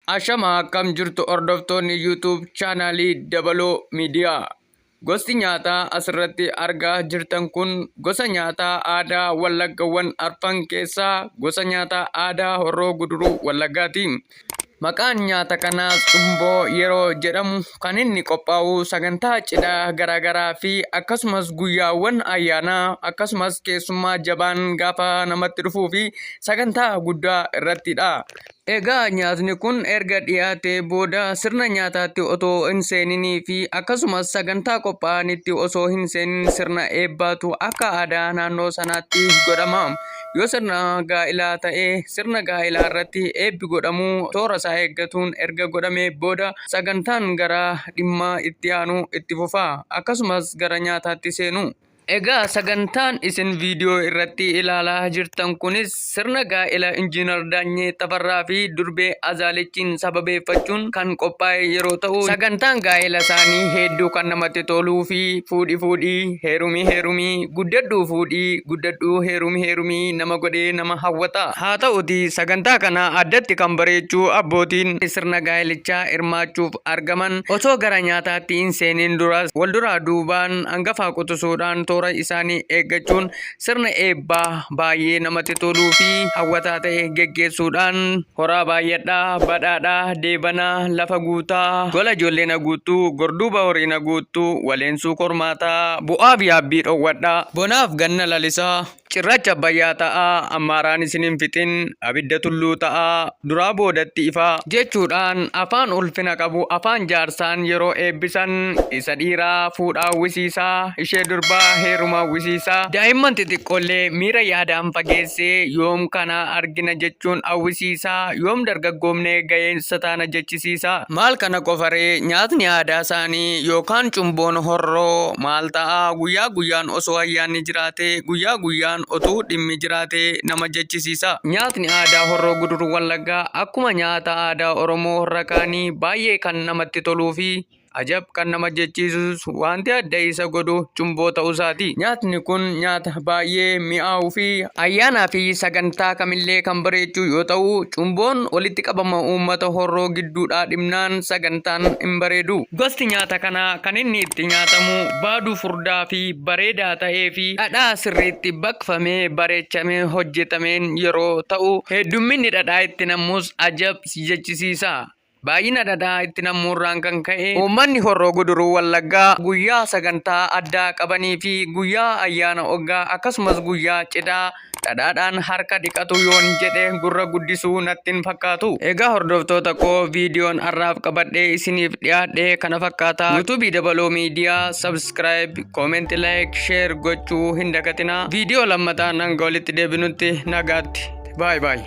Ashama akkam jirtu hordoftoonni YouTube chaanaalii Dabaloo Miidiyaa. Gosti nyaataa asirratti argaa jirtan kun gosa nyaataa aadaa Wallaggawwan arfan keessaa gosa nyaataa aadaa Horroo Guduruu Wallaggaati. Maqaan nyaata kanaas cumboo yeroo jedhamu kan inni qophaa'u sagantaa cidhaa garaagaraa fi akkasumas guyyaawwan ayyaanaa akkasumas keessummaa jabaan gaafa namatti dhufuu fi sagantaa guddaa irrattidha. Egaa nyaatni kun erga dhiyaatee booda sirna nyaataatti otoo hin seeninii fi akkasumas sagantaa qophaa'anitti osoo hin seenin sirna eebbaatu akka aadaa naannoo sanaatti godhama. Yoo sirna gaa'ilaa ta'e sirna gaa'ilaa irratti eebbi godhamu toora isaa eeggatuun erga godhamee booda sagantaan gara dhimma itti aanu itti fufa. Akkasumas gara nyaataatti seenu. Egaa sagantaan isin viidiyoo irratti ilaalaa jirtan kunis sirna gaa'ela Injiinar Daanyee Tafarraa fi Durbee Azaalichiin sababeeffachuun kan qophaa'e yeroo ta'u sagantaan gaa'ela isaanii hedduu kan namatti toluu fi fuudhi fuudhi heerumii heerumii guddadhuu fuudhi guddadhuu heerumii heerumii nama godhee nama hawwata. Haa ta'uti sagantaa kana addatti kan bareechuu abbootiin sirna gaa'elichaa hirmaachuuf argaman otoo gara nyaataatti hin seeniin duras walduraa duubaan hangafaa qutusuudhaan toora isaanii eeggachuun sirna eebbaa baay'ee namatti toluu fi hawwataa ta'e geggeessuudhaan horaa baay'adhaa, badhaadhaa, deebanaa, lafa guutaa, gola ijoollee na guuttuu, gorduuba horii na guuttuu, waleensuu kormaataa, bu'aaf yaabbii dhowwadhaa, bonaaf ganna lalisaa, Cirracha Abbayyaa ta'aa, Ammaaraan isin hin fixin, abidda tulluu ta'aa, duraa boodatti ifa. jechuudhaan afaan ulfina qabu afaan jaarsaan yeroo eebbisan isa dhiiraa fuudha hawwisiisaa, ishee durbaa heeruma hawwisiisaa, daa'imman xixiqqoollee miira yaadaan fageessee yoom kana argina jechuun hawwisiisaa, yoom dargaggoomnee ga'eessa taana jechisiisaa. Maal kana qofa ree nyaatni aadaa isaanii yookaan cumboon horroo maal ta'a guyyaa guyyaan osoo ayyaanni jiraate guyyaa guyyaan otuu dhimmi jiraate nama jechisiisa. Nyaatni aadaa horroo guduruu wallaggaa akkuma nyaata aadaa Oromoo horra kaanii baay'ee kan namatti toluu fi ajab kan nama jechiisus Wanti adda isa godhu cumboo ta'uusaati. Nyaatni kun nyaata baay'ee mi'aawuu fi ayyaanaa fi sagantaa kamillee kan bareechuu yoo ta'u, cumboon walitti qabama uummata horroo gidduudhaa dhibnaan sagantaan hin bareedu. Gosti nyaata kanaa kan inni itti nyaatamu baaduu furdaa fi bareedaa ta'ee fi dhadhaa sirriitti baqfamee bareechamee hojjetameen yeroo ta'u, heddumminni dhadhaa itti nam'us ajab si jechisiisa. Baay'ina dhadhaa itti nammuurraan kan ka'e uummanni Horroo Guduruu Wallaggaa guyyaa sagantaa addaa qabanii fi guyyaa ayyaana oggaa akkasumas guyyaa cidhaa dhadhaadhaan harka dhiqatu yoon jedhe gurra guddisuu natti hin fakkaatu. Egaa hordoftoota koo viidiyoon har'aaf qabadhee isiniif dhiyaadhe kana fakkaata. YouTube Dabaloo Media subscribe, comment, like, share gochuu hin dagatinaa. Viidiyoo lammataan hanga walitti deebinutti nagaatti. Baay baay.